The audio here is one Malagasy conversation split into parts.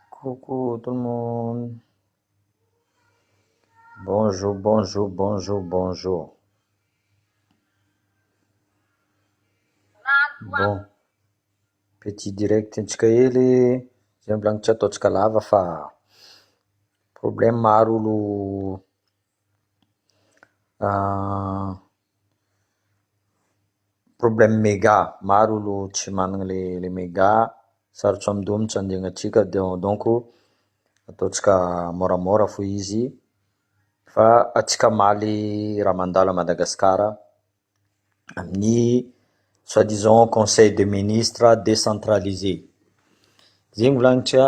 Coucou tout le monde. Bonjour, bonjour, bonjour, bonjour. Bon. Petit direct antsika hely zay mbola tsy ataontsika lava fa problème maro olo ah, Problème mega, maro olo tsy managna le mega, sarotro amin-doha mintsy andiagnatsika donc ataontsika môramôra fô izy fa antsika hamaly raha mandalo à Madagascar amin'ny soit disant conseil de ministre décentralisé, zegny volagnitry a.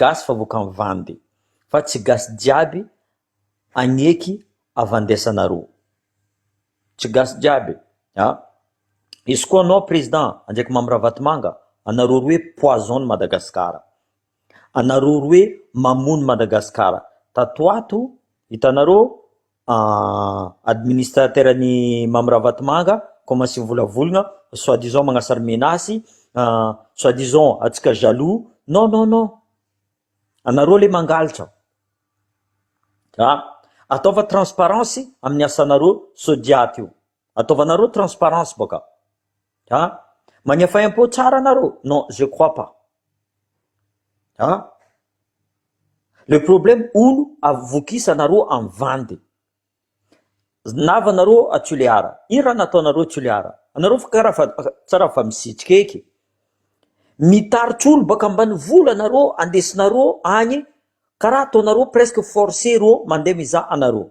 gasy fa vokany vandy fa tsy gasy jiaby agneky avandesanareo tsy gasy jiaby a izy koa anao president Andriakimamo Ravatomanga anareo roe poison ny Madagascar anareo roe mamono Madagascar tato ho ato hitanareo Ah, administrateur ny Mamy Ravatomanga, commence mivolavologna, soit disant magnasary menace, ah, soit disant antsika jaloux, non non non, anareo lé mangalatra, ah, ataova transparence amin'ny asanareo, so dia aty io. Ataovanareo transparence baka a! Magnefa impôt tsara nareo? Non je crois pas a! Le problème olo avokisanareo am vandy nava nareo a Tulear ino raha nataonareo a Tulear? Anareo fa kara fa tsara fa misitrika eky mitaritry olo baka ambany vola nareo andesinareo agny kara ataonareo presque force reo mande mizaha anareo.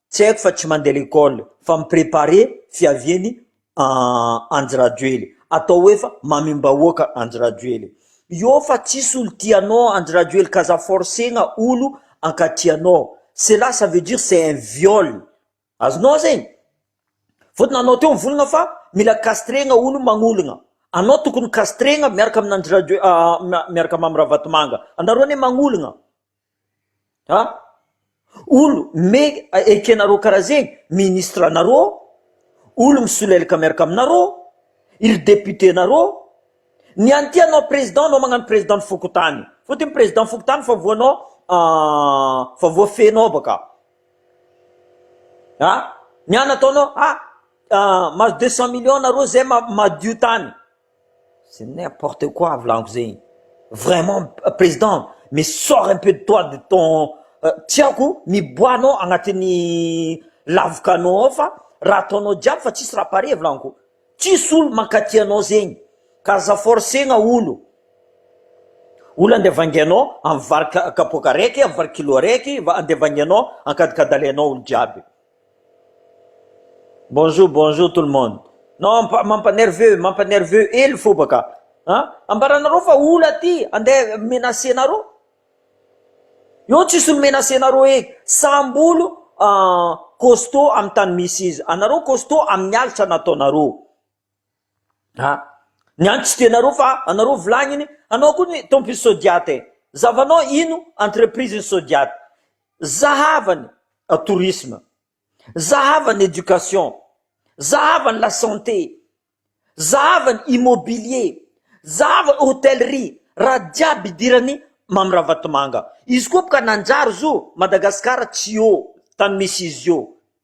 Tsy haiko fa tsy mandeha lekole fa mi-prepare fiaviany Andry Rajoely. Atao hoe fa mamim-bahoaka Andry Rajoely. Io fa tsisy olo tia anao Andry Rajoely ka aza forcegna olo hankatia anao. Cela ça veut dire c'est un viol. Azonao zegny? Fotony anao teo mivolagna fa mila castregna olo magnolagna. Anao tokony castregna miaraka amin Andry Rajoe miaraka Mamy Ravatomanga. Anareo anie magnolagna. an! olo me ekenareo karaha zegny ministre anareo, olo misolelaka miaraka aminareo, iry député nareo, ny an'ity anao président anao magnano président ny fokontany, fotony président fokontany fa voanao fa voafehinao baka, an! ny anao ataonao an! mahazo deux cent millions nareo zay madio tany. C'est n'importe quoi volaniko zegny vraiment président mais sors un peu de toi de ton tiako miboaha anao agnatin'ny lavokanao ao fa raha ataonao jiaby fa tsisy raha pare volaniko tsisy olo mankaty anao zegny ka aza forcegna olo olo andeha vangianao amin'ny vary kapoaka araiky amin'ny vary kilo araiky andeha vangianao ankadikadalenao olo jiaby. Bonjour bonjour tout le monde non mampa mampa nerveux mampa nerveux ely foba ka a ambaranareo fa ola aty ande menacer nareo eo tsisy olo menacer nareo e samby olo costaud amy tany misy izy anareo costaud aminy alitra nataonareo Ah, niantso dia nareo fa anareo vilagny iny, anao koa ny tompon'ny Sodiat e, zavanao ino entreprise ny Sodiat, zahava ny tourisme, zahava ny éducation, zahava ny la santé, zahava ny immobilier, zahava ny hotellerie, raha jiaby idiran'i Mamy Ravatomanga, izy koa boka nanjary zo Madagascar tsy eo tany misy izy io.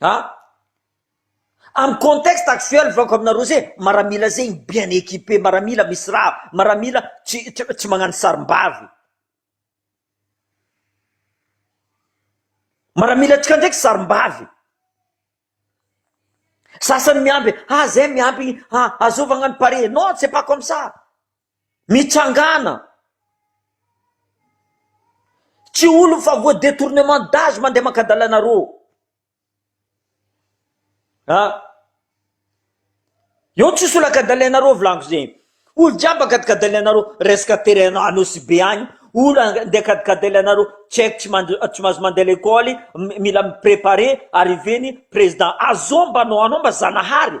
A, amin'ny contexte actuel vakoka aminareo zay maramila zay bien equipe maramila misy rava maramila tsy tsy magnano sarimbavy maramila tsika ndraiky sarimbavy sasany miamby ah zay miampy azovagna ny pare non ce pas comme ça mitsangana. Tsy olony fa voie detournement d'age mandeha maka dalana rô a! Eo ny tsisy olaka dalana rô volagno zegny, olo jiaby akadikadale anareo resaka terrain Anosibe agny, olo andeha akadikadale anareo tsy aiko tsy mandry tsy mahazo mandeha lekôly mila mi-preparer arriver ny président azôo mba anao anao mba zanahary.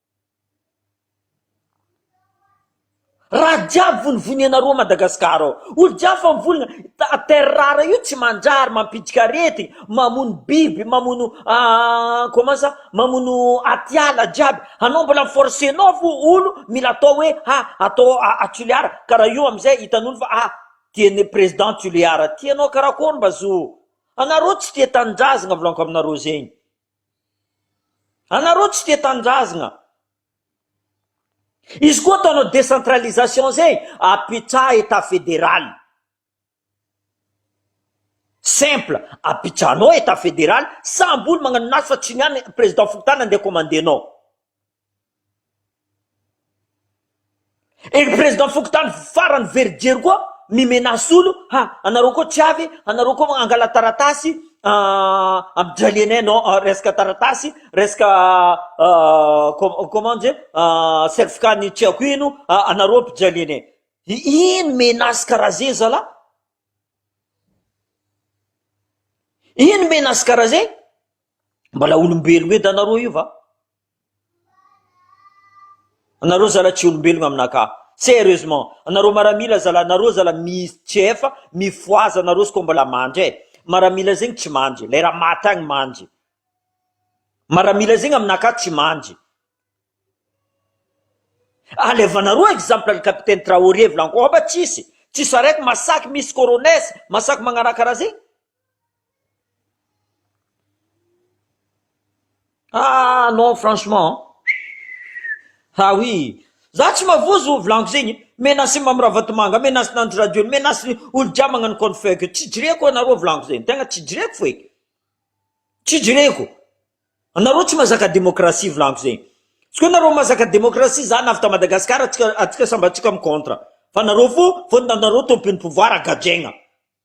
Raha jiaby vonivonia nareo Madagascar ao, olo jiaby fa mivolagna, ta- terre rare io tsy mandrary, mampiditrika aretigny, mamono biby, mamono comment ça, mamono atiala jiaby, anao mbola mi-forcenao fo olo mila atao hoe ha atao a Tulear, ka raha io amizay hitanolo fa ha tiane president Tulear, tianao karakôry mba zo, anareo tsy tia tanindrazagna volanko aminareo zegny. Anareo tsy tia tanindrazgna. Izy koa ataonao décentralisation zay apetraha etat fédéral. Simple, apetrahanao etat fédéral, sambo olo magnano naso fa tsy ny any président fokontany andeha commander-nao. Ery président fokontany farany verijery koa mi menace olo ha anareo koa tsy avy anareo koa angala taratasy am dralianay non resaka taratasy resaka comment dire certificat ny tsy haiko ino anareo mpijalianay ino menace karaha zegny zalah ino menace karaha zegny mbola olombelogno edy anareo io va. Anareo zalah tsy olombelogna amina ka. Serieusement. Anareo maramila zalah nareo zalah mis cf mifohaza anareo sko mbola mandry eh. Maramila zegny tsy mandry. Lay raha maty agny mandry. Maramila zegny amina ka tsy mandry. Alevanareo exemple ny capitaine Traoré volagniko oba tsisy. Tsisy araiky masaky misy corones masaky magnaraha karaha zegny. Ah non franchement an, ah oui za tsy mavozo volaniko zegny, menace Mamy Ravatomanga, menace Nandry Radio, menace ny olo jiaby magnano compte fake io, tsy jereko anareo volaniko zegny, tegna tsy jereko feky, tsy jereko, anareo tsy mazaka demokrasia volaniko zegny, izy koa nareo mazaka demokrasia za navy ta Madagascar atsika atsika samby atsika mi contre fa nareo fo fo nareo tompony pouvoir gadraigna.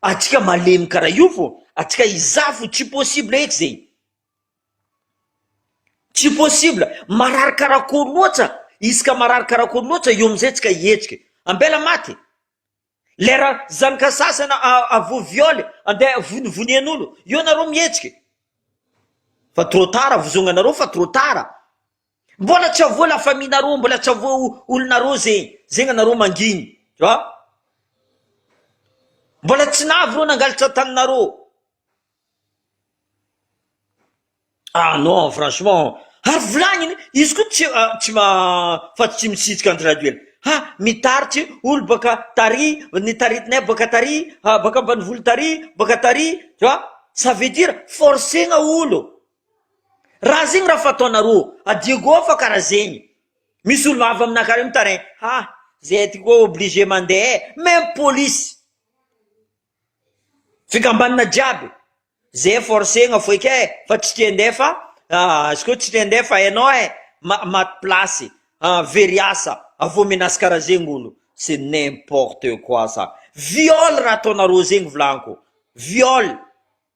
Atsika malemy kara io vao atsika iza fo tsy possible eky zegny tsy possible marary karakôry loatsa isaka marary karakôry loatsa eo amizay tsika hietsika ambela maty lera zanaka sasana avo viole ande vonivonienolo eo nareo mietsika fa trop tard vozonganareo fa trop tard. Mbola tsy avoa la famille nareo mbola tsy avoa olonareo ze zegny anareo mangigny a mbola tsy navy reo nangalatra taninareo ah non franchement ary volagniny izy koa tsy tsy ma fa tsy misitrika Andry Rajoelina ha mitaritry olo baka tary ny taritinay baka tary baka ambanivolo tary baka tary tu vois ça veut dire forcegna olo. Raha zegny raha fataonarô a Diego ao fa kara zegny, misy olo avy aminà kara io mitaraigny, ha zay ty koa obligé mande e, même polisy, fikambanana jiaby, zay forcegna foike e, fa tsy te nde fa izy koa tsy te nde fa enao e, ma- maty plasy, very asa, avy eo menace kara zegny olo, c'est n'importe quoi ça, viol raha ataonarô zegny volagniko, viol.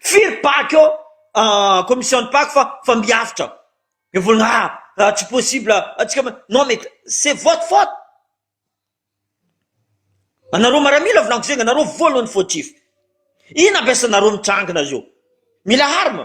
Firy baky eo commission Pako fa fa miavotra ny vola raha tsy possible atsika ma non mais c'est votre faute anareo maramila volako zegny anareo voalohany fautif ino ampiasanareo mitrangina zao mila harma.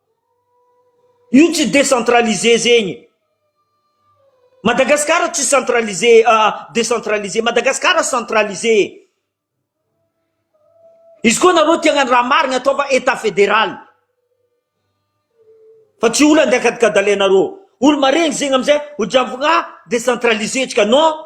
Io tsy décentralisé zegny. Madagascar tsy centralisé décentralisé Madagascar centralisé e. Izy koa nareo tia hagnano raha marigna ataova état fédéral fa tsy olo andeha akadikadalenareo olo maregny zegny amizay ho jambogna décentralisé tsika non.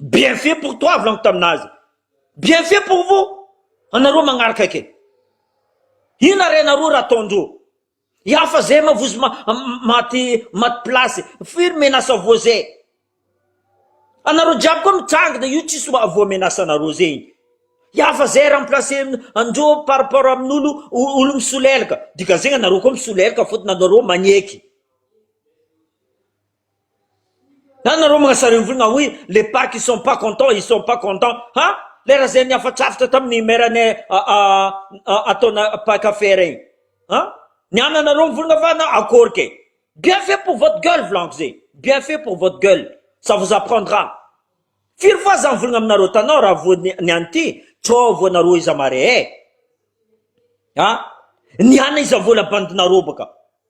Bien fait pour toi volagno taminazy bien fait pour vous anareo magnaraka ake ina ary anareo raha ataondreo i hafa zay ma vozy maty maty place firy menace avao zay anareo jiaby koa mitrangina io tsisy voa menace anareo zay iny i hafa zay remplace andreo par rapport amin'olo olo misolelaka dika zegny anareo koa misolelaka fôtony anareo magneky. Zany nareo manasareo ny volo na oui les pas qui sont pas contents ils sont pas contents ha le raha zay nihafatrafitra tamin'ny maire ny ataona mpankafy rey ha niana nareo ny volona fa na akory kay bien fait pour votre gueule volaniko zay bien fait pour votre gueule ça vous apprendra firy fois za mivolagna aminareo tanao raha voa niany ity trop voa nareo iza mare eh ha niana iza vola bandinareo baka.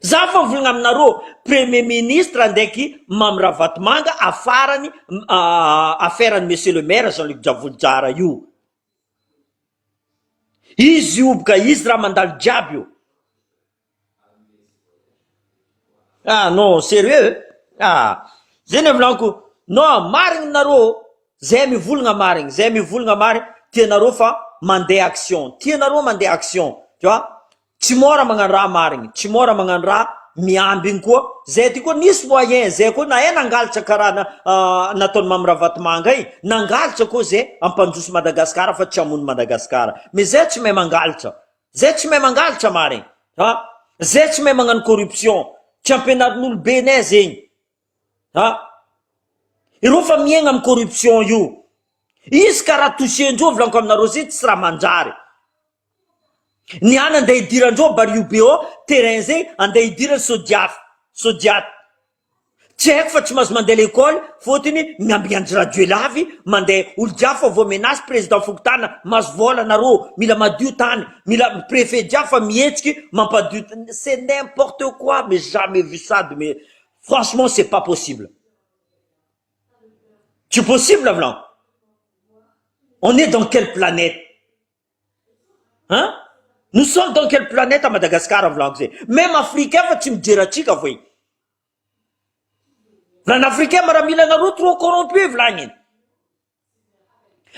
Za fa mivolagna aminareo premier ministre ndraiky Mamy Ravatomanga afarany affaire ny monsieur le maire Jean Luc Javolojara io, izy io boka izy raha mandalo jiaby io, ah non serieux ah zay ny volagno non marigny nareo zay mivolagna marigny zay mivolagna marigny tianareo fa mande action tianareo mande action tu vois Tsy mora magnano raha marigny, tsy mora magnano raha miamby igny koa, zay ty koa nisy moyen zay koa nahay nangalatra karaha na nataon'i Mamy Ravatomanga igny, nangalatra koa zay hampandroso Madagascar fa tsy hamono Madagascar, mais zay tsy mahay mangalatra, zay tsy mahay mangalatra marigny ha, zay tsy mahay magnano corruption, tsy ampianarin'olobe nay zegny ha, ireo fa miaigna amin'ny corruption io, izy ka raha toucher-ndreo volaniko aminareo zay tsy raha manjary. Ny an andeha hidiran-droa Bariobeao terrain zay andeha hidirany sao diafa sao diato tsy haiko fa tsy maintsy mandeha lekôly fôtony miambigny an'i Rajoel avy mandeha olo jiaby fa vao menace président fokontana maso vôla narô mila madio tany mila préfet jiaby fa mihetsiky mampadio c'est n'importe quoi mais jamais vu ça de mes franchement c'est pas possible tsy possible avlan on est dans quelle planète An? Nous sommes dans quelle planète à Madagascar amin'ny volako zay? Même Afrique hafa tsy mijery antsika vao e! Vilany Africain maramila nareo trop corrompu e vilany e!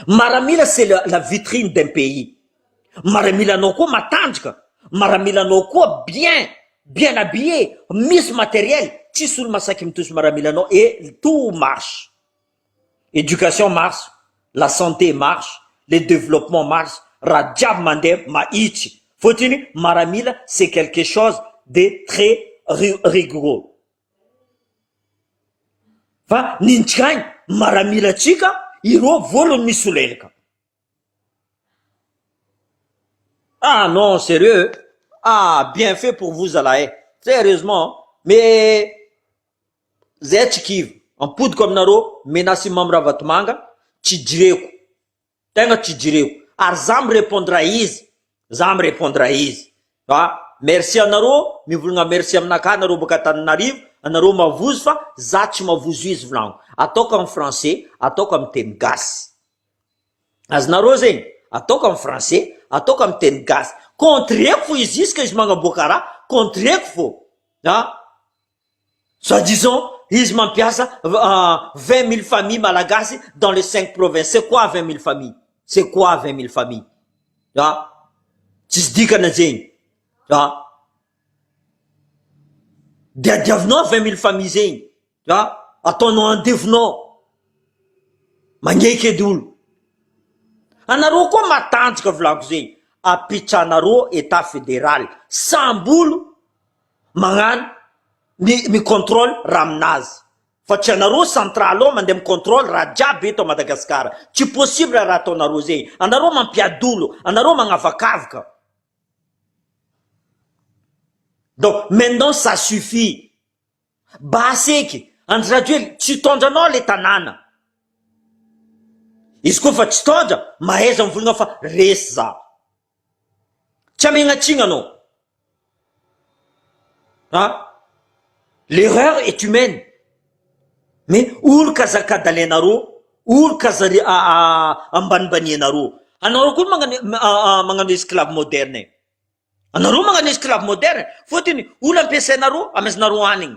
Maramila c'est la, la vitrine d'un pays. Maramilanao koa matanjaka, maramilanao koa bien, bien habillé, misy matériel, tsisy olo masaky mitohy sy maramilanao et tout marche. Education marche, la santé marche, le developpement marche raha jiaby mandeha mahitsy fotiny maramila c'est quelque chose de très rigoureux fa ny tsikainy maramila tsika ireo voalohany misolelika ah non serieux ah bien fait pour vous zalahy eh, sérieusement mais. Zch kivy ampodiko aminareo menace i Mamy Ravatomanga tsy jireko tegna tsy jireko ary za mi repondra izy za mi repondra izy fa merci anareo mivolagna merci aminakahy nareo baka Antananarivo anareo mavozo fa za tsy mavozo izy volagno ataoko am français ataoko am teny gasy azonareo zegny ataoko am français ataoko am teny gasy contre-ko fo izy izy ka izy magnaboaka raha contre-ko fo an. Soit disant izy mampiasa vingt mille famille malagasy dans les cinq provinces c'est quoi vingt mille famille c'est quoi vingt mille famille a tsisy dikana zegny a diadiavinao vingt mille famille zegny a ataonao andevonao magneky edy olo anareo koa matanjaka volako zegny apetrahanareo etat federal sambolo mañano ny mi controle raha aminazy fa tsy anareo central ao mandeha mi controle raha jiaby eto Madagascar tsy possible raha ataonareo zay anareo mampiadolo anareo mañavakavaka donc maintenant ça suffit basy eky Andry Rajoely tsy hitondra anao le tanàna izy koa fa tsy hitondra mahaiza mivolagna fa resy za. Tsy amegnatsigna anao. Ha? L'erreur est humaine. Me oroka aza kadalainareo, oroka aza ry ambanimbanianareo. Anareo koa magnano magnano esclave moderne e. Anareo magnano esclave moderne fôtony olo ampiasainareo amezanareo hanigny.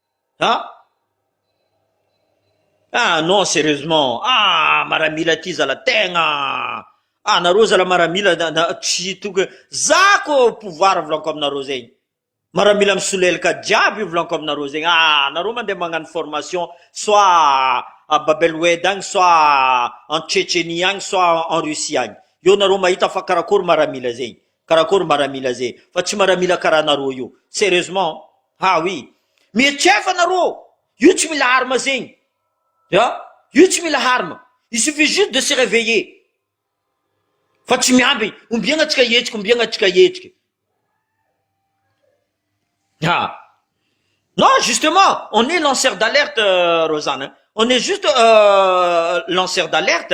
Ah! Ah non serieusement ah maramila ity zala tegna ah nareo zala maramila tsy tokony za ko pouvoir volanko aminareo zegny maramila misolelaka jiaby volanko aminareo zegny ah nareo mandeha magnano formation soit a babel wed agny soit en Tchetchenie agny soit en Russie agny eo nareo mahita fa karakory maramila zegny Karakory maramila zay fa tsy maramila karaha nareo io serieusement ha oui mietrefa nareo io tsy mila arme zegny ya io tsy mila arme il suffit juste de se reveiller fa tsy miamby ombiagna tsika hihetsiky ombiagna tsika hihetsiky ha non justement on est lanceur d'alerte euh, Rosanne on est juste euh, lanceur d'alerte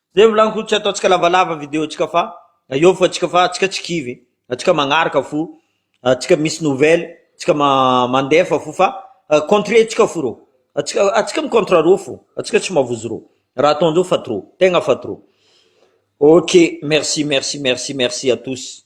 Zay volany ko tsy ataontsika lavalava video tsika fa eo fa tsika fa tsika tsy kivy tsika magnaraka fo tsika misy nouvelle tsika mandefa fo fa contre tsika fo rô tsika tsika mi contre rô fo tsika tsy mavozo rô raha ataonjeo fa trop tegna fa trop ok merci merci merci merci à tous.